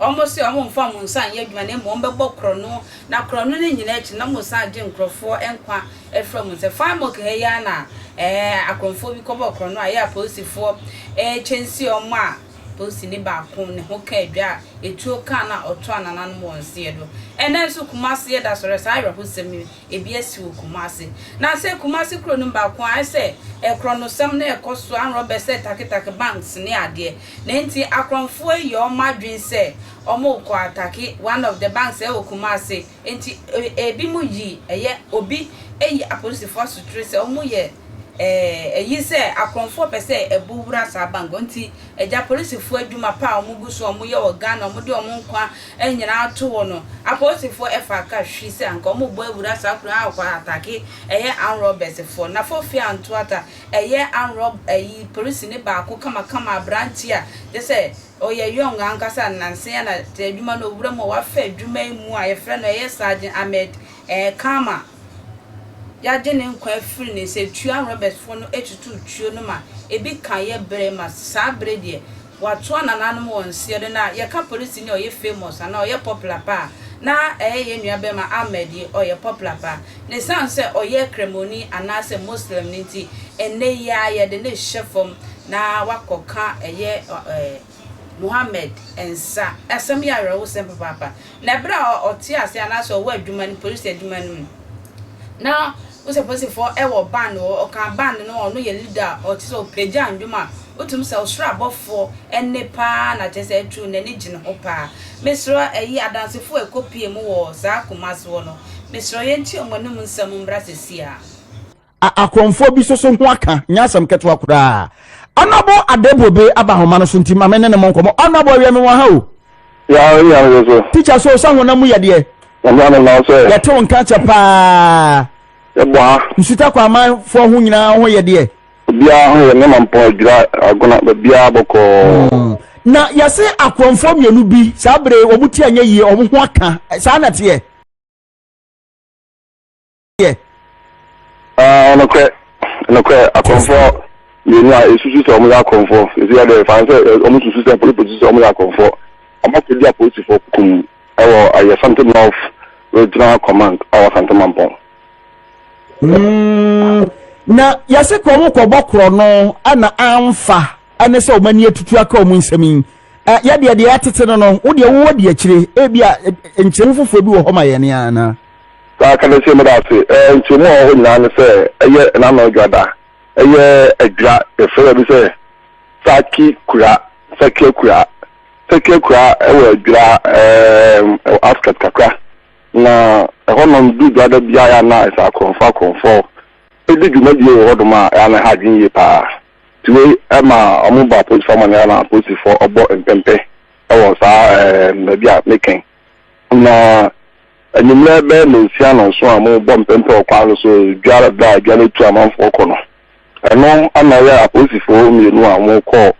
Wɔse wɔmmfa wɔn nsa nnyɛ adwuma na mmom wɔbɛbɔ korɔno, na korɔno no nyina akyi no na wɔsan agye nkorɔfoɔ nkwa afiri wɔn nsa. Faimok ha yi ara na akorɔmfoɔ bi kɔbɔɔ korɔno a ɛyɛ a polisifoɔ rekyɛnse wɔn a polisini baako ne ho kaa dwa a etuo kaa no a ɔtoaa nananom wɔ nseɛ do. Ɛnnɛ nso Kumasi yɛda so hwɛ saa awerɛhosɛm yi, ebi asi wɔ Kumasi. Na sɛ Kumasi kuro no mu baako a ayɛ sɛ korɔnosɛm no rekɔ so ara, robbersɛ take take banks ne adeɛ. Na nti akorɔmfoɔ yi yɛ wɔn adwene sɛ wɔrekɔ atake one of the banks ɛwɔ Kumasi, nti ebi mo yi ɛyɛ obi ayi apolisifoɔ asotere sɛ wɔn yɛ ɛyi sɛ akorɔmfoɔ pɛ sɛ ɛbo wura saa bank hɔ, nti agya polisifoɔ adwuma pa a wɔn gu so wɔn yɛ wɔ Ghana wɔn de wɔn nkwa nyinaa ato hɔ no apolisifoɔ ɛfaa ka hwi sɛ anka wɔn rebɔ awura saa kuro yi na wɔakɔ atake ɛyɛ armed robbers foɔ, Nafo Fie Antoata. Ɛyɛ anrɔb ayi polisini baako kamakama aberanteɛ a gye sɛ ɔyɛ young ankasa nansa yi na te adwuma no owura mu a wafa adwuma yi mu a yɛfrɛ no ɛyɛ Sergeant Ahmed eh Khama yɛagye ne nkwa afiri ne nsa tuo anrɔbɛsfoɔ no atutu tuo no ma ebi ka yɛ bere ma saa bere deɛ Watoa nananom wɔ nseɛ do na yɛka polisini a ɔyɛ famous anaa ɔyɛ popular paa na ɛyɛ yɛn nua bɛrima Ahmed yi ɔyɛ popular paa na ɛsiane sɛ ɔyɛ kramoni anaa sɛ Muslim no nti ɛnnɛ yi ara yɛde no rehyɛ fam na wakɔ ka ɛyɛ Mohammed nsa asɛm yɛ awerɛhosɛm papaapa. Na bere a ɔte ase anaasɛ ɔwɔ adwuma no, polisi adwuma no mu, na wohu sɛ polisifoɔ wɔ band wɔ hɔ, ɔka band no a ɔno yɛ leader a, ɔte sɛ ɔpagya nnwom a, wotumi sɛ ɔsoro abɔfoɔ nne pa ara na kyerɛ sɛ atuu n'ani gye ne ho pa ara. Mesrɛ ɛyi Adansefo a ɛkɔpue mu wɔ saa Kumasi hɔ no, mesrɛ yɛntie wɔn anom nsɛm mmra seesei ara. a akorɔmfoɔ bi soso ho aka nyɛ asɛm ketewa koraa ɔnɔbo adebobe aba ahoma no so nti ma me ne ne mo nkɔmɔ ɔnɔbo awiɛ me wɔ ha o tikya so sɛ honam mu yadeɛ yɛtew nka kyɛ paa nsuta kɔ amanfoɔ ho nyinaa ho yɛdeɛ obiara ho yɛ nneɛma mpɔn adwira agona baabiara bɔkɔɔ hmm. na yɛse akorɔmfoɔ mmienu bi saa bere wɔn ti anyɛ yie wɔn ho aka saa na teɛ yɛ. Ah, nokorɛ, nokorɛ, akɔmfoɔ mmienu a esusu sɛ wɔn yɛ akɔmfoɔ, esi yɛ dɛ fan sɛ wɔn susu sɛ polipɔsi sɛ wɔn yɛ akɔmfoɔ, wɔn akɔdi apolisifoɔ kum ɛwɔ ɛyɛ Santi North Regional Command a wɔ Santi Mampɔn. Mm, na yɛsi kɔ wɔn kɔ bɔ korɔ no ɛna anfa ɛne sɛ wɔn ani atutu aka wɔn nsɛm yi. Eh, yɛdeɛ deɛ ɛtete no no wodeɛ wowɔ di akyire ebi a nkyerɛmu foforɔ bi wɔ hɔ ma yɛn anaa Saa ka no nso yɛ meda ase. Ɛɛ, nkyerɛmu a ɛwɔ hɔ nyinaa ne sɛ ɛyɛ Nnannan Adwira da. Ɛyɛ Adwira, yɛfrɛ baabi sɛ Saki Kura, Sakia Kura. Sakia Kura wɔ Adwira, ɛɛ, wɔ outskirt kakra. Na ɛhɔnom du Adwira da biara yɛ a na ɛsɛ akorɔmfoɔ akorɔmfoɔ di dwumadie wɔ hɔnom a ɛyɛ a na ɛha adwene yie pa ara. Nti wei ɛma wɔba apolisifoɔ amanneɛ a na apolisifoɔ bɔ mpɛmpɛ wɔ saa, ɛɛ, baabi a mekɛn. Na anwummerɛ bɛyɛ nnɔnsia nnɔnson a mobɔ mpɛmpɛ wɔ kwan no so dware berɛ a dwa no atu amanfoɔ kɔ no, ɛno na ɛyɛ apolisifoɔ mmienu a wɔkɔɔ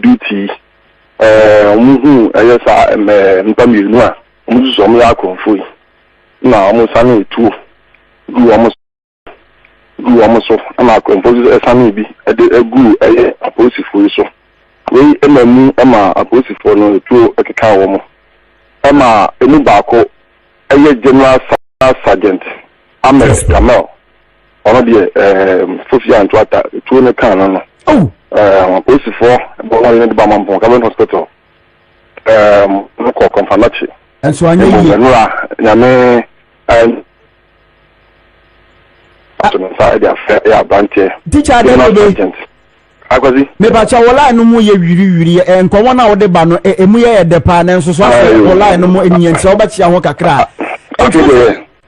duty yi. Wɔhuu ɛyɛ saa nnipa mmienu a wɔsusu sɛ wɔyɛ akorɔmfoɔ yi na wɔsane tuo guu wɔn so. guu wɔn so na akwantufoɔ nso sanee bi de guu ɛyɛ apolisifoɔ yi so. Wei maa mu maa apolisifoɔ no tuo kekaa wɔn ma ɛmu baako yɛ General Staff Sergeant Ahmed Kamel, ɔno deɛ ɛɛm Fofi Anto Atta tuo no kaa no no. Ɛɛm apolisifoɔ bɔ wɔn ne de ba Mampong Government Hospital ɛɛm no kɔ Kɔmfanachi. Ɛnso anyɛ yie. Ɛmu bɛnura nyame ɛɛm. ato ne nsa de afrɛ yɛ aberanteɛ. tikya dɛ ne be akwasi. mepakyɛ wɔ line no mu yɛ wiriwiri ɛ nkɔmɔ no a wode ba no ɛmu yɛ yɛ dɛ paa nanso so asɛ wɔ line no mu ɛnyɛ nti sɛ wobɛkyea ho kakra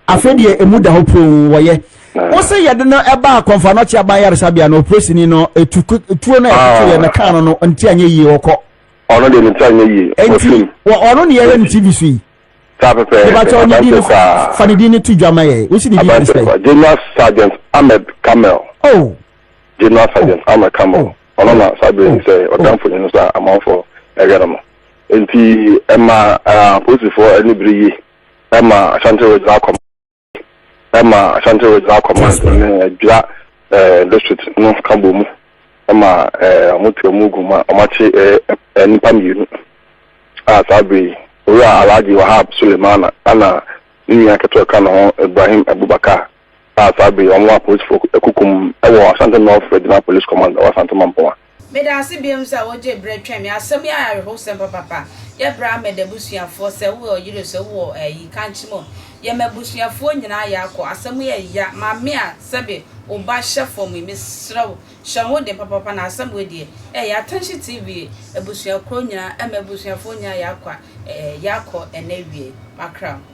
afei deɛ ɛmu da hɔ poo wɔyɛ wo sɛ yɛde no ɛba akɔmfa no ɔkye aban yaresabea no opresini no tuo no ɛtoto yɛ no kaa no no nti anyɛ yie wɔkɔ ɔno deɛ ne nsa nyɛ yie ɔno ne yɛyɛ no tv so yi Saa pɛpɛɛpɛ. Mebatɔ ne din no fa ne din no to dwa ma yɛ. Wosi ne din firi sɛ. General Sergeant Ahmed Kamel. Oh. General oh. Sergeant oh. Ahmed Kamel. Oh. Ɔno na saa bere yi sɛ ɔda mfonyin no so a amanfo ɛhwɛ no no. Nti ɛma apolisifoɔ ani bere yie ɛma Ashanti Regional Command. ɛma Ashanti Regional Command ne Adwira District no ka bɔ mu ma wɔtoa mu gu ma wɔakye nnipa mmienu a saa bere yi Owura Alhaji Wahab Sulemana ɛna ne nua ketewa ka ne ho Ibrahim Abubakar a saa bere yi wɔn a apolisifoɔ akukum wɔ Ashanti North Regional Police Command wɔ Asante Mampong a Meda ase biom sɛ wogyee berɛ twɛn me. Asɛm yi ayɛ awerɛhowsɛm papapa. Yɛ berɛ a mɛda abusuafoɔ sɛ wowɔ ɔyere so wowɔ ayi kankye mu. Yɛ m'abusuafoɔ nyinaa yɛ akɔ. Asɛm yi yɛ ya. Maame a sɛbe wo ba hyɛ fam yi mesrɛ wo hyɛ ho den papapa na asɛm wei deɛ ɛyɛ Atɛnhye TV abusua korɔ nyinaa ɛma abusuafoɔ nyinaa yɛ akɔ yɛ akɔ ɛnɛ awiei. Makra wo.